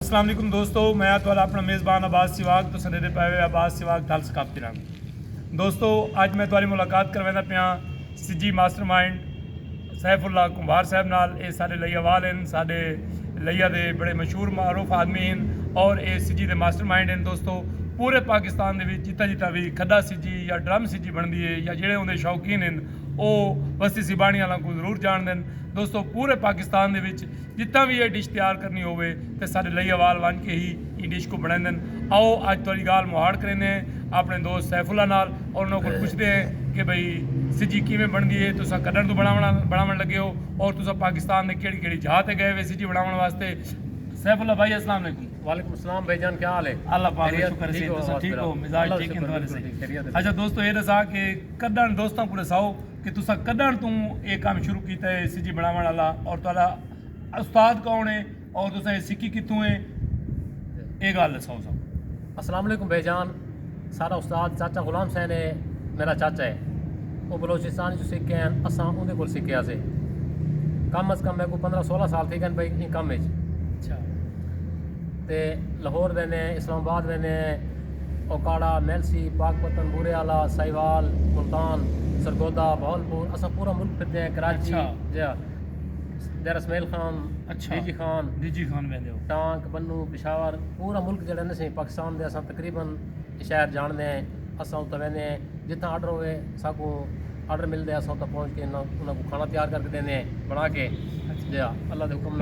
السلام علیکم دوستو میں اتوالا اپنا میزبان آباد سیواگ تو سندے دے پائے ہوئے آباد سیواگ تھال سکاپتی رنگ دوستو آج میں اتوالی ملاقات کر ویندہ پیاں سجی ماسٹر مائنڈ سیف اللہ کمبھار صاحب نال اے سارے لئیہ وال ہیں سارے لئیہ دے بڑے مشہور معروف آدمی ہیں اور اے سجی دے ماسٹر مائنڈ ہیں دوستو پورے پاکستان دے بھی جتا جتا بھی کھدا سجی یا ڈرم سجی بن دیئے یا جیڑے ہوں دے شوقین ہیں او وستی سیبانی اللہ کو ضرور جان دیں دوستو پورے پاکستان دے بھی جتھاں وی ایہ ڈش تیار کرنی ہووے تاں ساڈے لئیوال ونج کے ہی ایں ڈش کوں بنڑیندن۔ آؤ اج تہاڈی گالھ مہاڑ کریندے ہیں اپنڑے دوست سیف اللہ نال اور انہاں کول پچھدے ہیں کہ بھئی سجی کیویں بنڑدی ہے، تساں کڈنڑ توں بنڑاونڑ لگے ہو اور تساں پاکستان دے کیہڑی کیہڑی جھاہ تے گئے ہوئے سجی بنڑاونڑ واسطے۔ سیف اللہ بھائی السلام علیکم۔ وعلیکم السلام بھائی جان کیا حال ہے؟ اللہ پاک دا شکر ہے تساں ٹھیک ہو مزاج ٹھیک ہے تہاڈے صحیح۔ اچھا دوستو ایہ ڈساں کہ کڈنڑ دوستاں کوں ڈساؤ۔ کہ تساں کڈن توں اے کم شروع کیتا ہے اے سی جی بنڑاونڑ آلا اور تہاڈا استاد کون ہے اور تساں اے سیکھی کتھوں ہے اے گالھ دساؤ اساں کوں۔ السلام علیکم بھائی جان ساڈا استاد چاچا غلام حسین ہے میڈا چاچا ہے او بلوچستان اچ سکھ گئے ہن اساں اوندے کول سکھے ہاسے کم از کم میکوں پندرہ سولہ سال تھی گئن بھائی ایں کم اچ اچھا تے لاہور ویندے ہیں اسلام آباد ویندے ہیں اوکاڑہ، میلسی، پاکپتن، بورے آلا، ساہیوال، ملتان، سرگودھا، بہاولپور اساں پورا ملک پھردے ہیں کراچی ڈیرہ اسماعیل خان، ڈیجی خان، ٹانک، بنوں، پشاور پورا ملک جیڑھا نہ سئیں پاکستان دے اساں تقریبا شہر جانڑدے ہیں اساں اتھاں ویندے ہیں جتھاں آڈر ہووے ساکوں آڈر ملدے اساں اتھاں پہنچ کے انہاں کوں کھانا تیار کر کے ڈیندے ہیں بنا کے جی ہاں اللہ دے حکم نال۔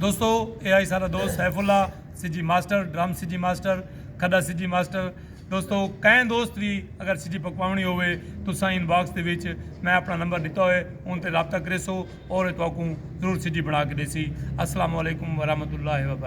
دوستو اے آئی سارا دوست سیف اللہ سی جی ماسٹر ڈرم سی جی ماسٹر کھڈا سی جی ماسٹر دوستو کئے دوست بھی اگر سی جی پکواونی ہوئے تو ساں ان باکس دے وچ میں اپنا نمبر ڈتا ہوئے ان تے رابطہ کرے سو اور تو کو ضرور سی جی بنا کے دے سی السلام علیکم ورحمۃ اللہ وبرکاتہ